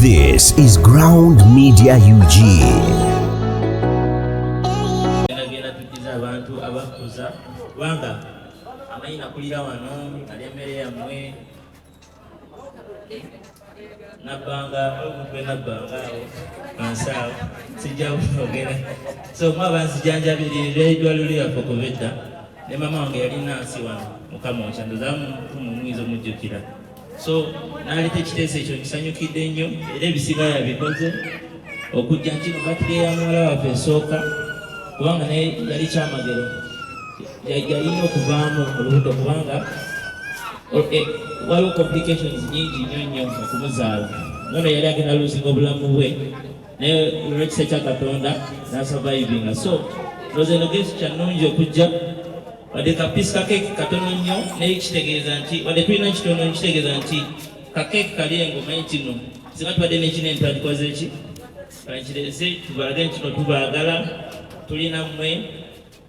This is Ground Media UG. nabbanga omuntu enabbanga awo ansaawo sijjaogera so mwe abanzijanjabirira eddwaliro lyaffe okuva edda ne mama wange yali nansi wano mukama okyandozamu mumwiza omujjukira so naleta ekiteeso ekyo nkisanyukidde nnyo era ebisiba yabikoze okujja nkino batire ya muwala waffe esooka kubanga naye yali kyamagero yalina okuvaamu olubuto kubanga eh, waliwo complications nyingi nnyo nnyo okumuzaala nono yali agenda luzinga obulamu bwe naye olwekisa kya katonda nasavayivinga so loza eno gesi kyanungi okujja wadde kapisi kakeeki katono nnyo naye kitegeeza nti wadde tulina kitono kitegeeza nti kakeeki kali engo manyi kino singa tubadde nekinene twakikoze ki kankireze tubalage nti kino tubaagala tulina mmwe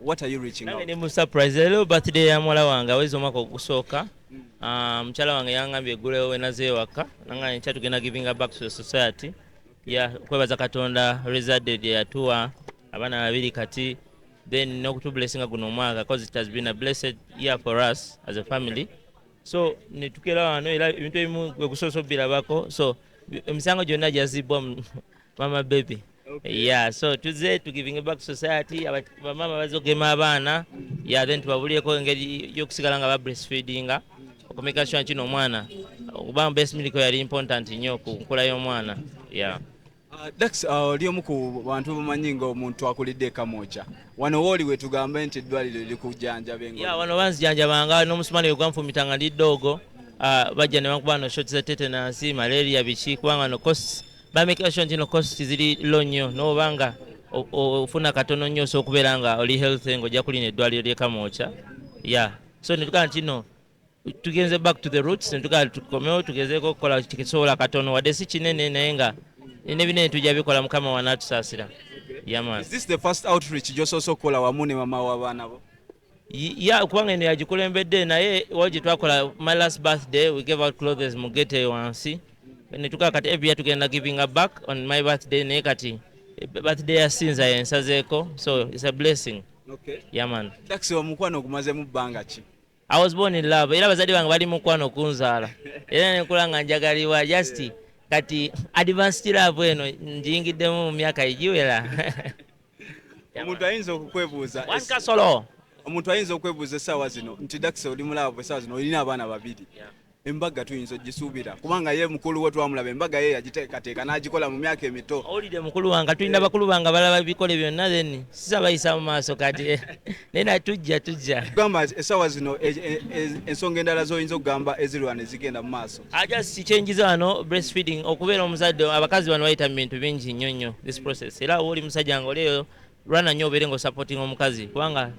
what are you reaching out ne mu surprise lero birthday ya mwala wange awezi omwaka ogusooka mm. ah, mukyala wange yangambye eggulewo wenaze ewaka nangambye nkya tugenda givinga back to the society ya kwebaza katonda rezade lye yatuwa abaana babiri kati then n'okutublessinga guno omwaka cause it has been a blessed year for us as a family so netukera wano era ebintu ebimu gwe kusoosa obirabako so emisango gyonna gyazibbwa mama baby okay. yeah so tuze to giving back society bamama bazogema abaana yeah then tubabulireko engeri yokusigala nga ba breastfeedinga okumeka sure kino omwana okuba breast milk yali important nnyo ku nkula y'omwana yeah Uh, Dax uh, oli omu ku bantu bamanyi nga omuntu akulidde ekamwokya wano wooli wetugambe nti eddwaliro lirikujjanjaba engo yeah, wano banzijanjabanga n'omusumani wegwanfumita nga ndi ddoogo uh, bajja ne bankuba no shot za tetenansi malaria biki kubanga no costs bamekera sure nti no cost ziri low nnyo noba nga ofuna katono nnyo osobola okubeera nga oli health nga ojja kulina eddwaliro lyekamwokya ya so netugaa nti no tugenze back to the roots netugaa tukomewo tugezeeko okukola kisobola katono wadde si kinene naye nga nebinene tujja bikola mukama wanaatusaasira yaman is this the first outreach gyosoose okukola wamu ne mama w'abaana bo ya kubanga eno yagikulembedde naye wali gyetwakola my last birthday we gave out clothes mu gate eyo wansi netukaa kati every year tugenda giving a back on my birthday naye kati eh, birthday yasinza yensazeeko so it's a blessing okay. yaman yeah, taxi omukwano ogumazemu bbanga ki i was born in love era abazadde bange bali mukwano okunzaala era nenkula nga njagalibwa just yeah. kati advanced love eno njingiddemu mu myaka egiwera omuntu ayinza okukwebuuza kasolo omuntu ayinza okwebuuza essaawa zino nti dakisa oli mulaavu essaawa zino olina abaana babiri embaga tuyinza ogisuubira kubanga ye mukulu we twamulaba embaga ye yagiteekateeka n'agikola mu myaka emito owulidde mukulu wange tulina eh. bakulu bange abalaba bikole byonna then sisabayisa mu maaso kati eh. naye na tujja tujja gamba essaawa zino e, e, e, ensonga endala z'oyinza okugamba ezirwana ezigenda mu maaso ajasi kyenjiza wano breastfeeding okubeera omuzadde abakazi bano bayita mu bintu bingi nnyo nnyo this process era wooli musajja nga olieyo lwana nnyo obeere nga osupporting omukazi kubanga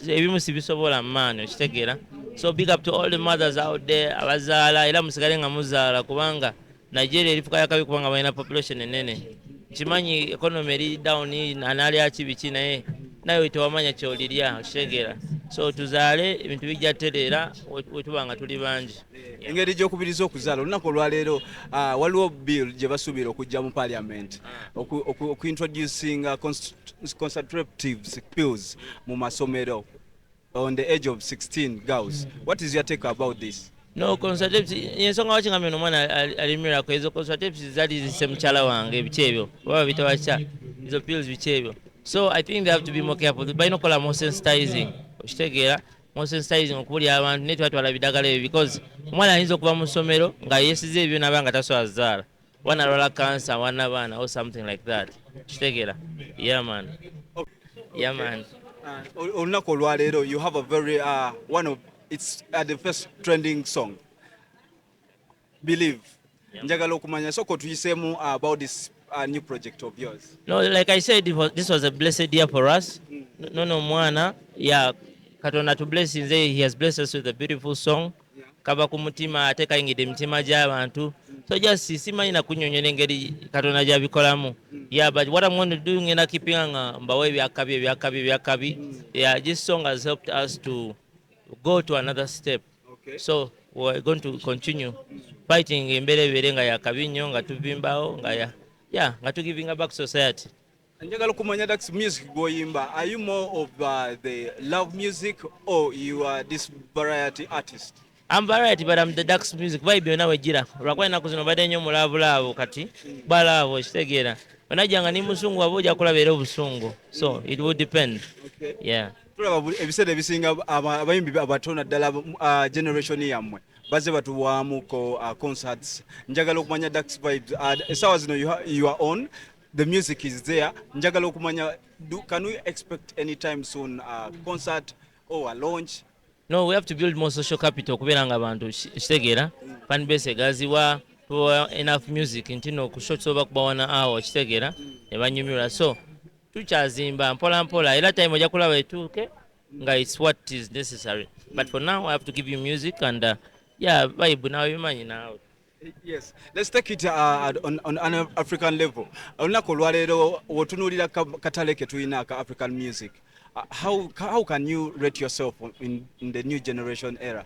ebimu sibisobola maani okitegeera so big up to all the mothers out there abazaala era musigale nga muzaala kubanga nigeria erifuka yakabi kubanga balina population enene kimanyi economy eri down anaalyaki biki naye naye tewamanya kyolirya okitegeera so tuzaale ebintu bijja tereera wetuba nga tuli bangi engeri gyokubiriza okuzaala olunaku olwaleero ah, waliwo bill gye basuubira okujja mu parliament okuintroducing uh, concentratives pills mu masomero on the age of 16 girls what is your take about this no consultatives yensonga waki nga mino omwana alimirako ezo consultatives zali zise mukyala wange ebiki ebyo oba bitawakya ezo pills biki ebyo so i think they have to be more careful balina okukola more sensitizing okitegeera more sensitizing okubulira abantu naye twatwala bidagala ebyo because omwana ayinza okuva mu ssomero nga yesiza ebyo naba nga tasobola zaala wana alwala kansa wana baana or something like that kitegera yaman yaman uh, olunaku olwaleero you have a very uh, one of it's uh, the first trending song believe njagala okumanya sooka otuyiseemu about this uh, new project of yours no like i said was, this was a blessed year for us mm. nono omwana ya katonda to bless nze he has blessed us with a beautiful song kava ku mutima ate kayingidde emitima gy'abantu so just simanyi nakunyonyola engeri katonda gyabikolamu yeah but what i'm going to do ngenda kipinga nga mbawo ebyakabi ebyakabi ebyakabi yeah this song has helped us to go to another step so we're going to continue fighting embeera ebeere nga yakabi nnyo nga tuvimbawo nga ya yeah, nga tugivinga back society njagala okumanya dax music gwoyimba are you more of uh, the love music or you are this variety artist I'm variety but I'm the dax music vibe byonna wejjira olwakuba ennaku zino badde nnyo mulaabulaabu kati balaabo kitegeera onajjanga ni musungu waba ojja kulaba era obusungu so it will depend okay. yeah tulaba buli ebiseera ebisinga aba- abayimbi abato naddala uh, generation yammwe bazze batuwaamuko uh, concerts njagala okumanya dax vibes uh, essaawa zino you, ha- you are on the music is there njagala okumanya do, can we expect any time soon uh, concert or a launch no we have to build more social capital okubeera nga abantu ki- kitegeera fan base egaziwa tubawa enough music nti no ku shots oba kubawana awo kitegeera ne banyumirwa so tukyazimba mpola mpola era time ojja kulaba etuuke nga its what is necessary but for now i have to give you music and uh, yeah vibe nawe bimanyi nawe Yes. Let's take it uh, on, on an African level. Olunaku olwaleero wotunuulira katale ke tulina aka African music. Uh, how, how can you rate yourself in, in the new generation era?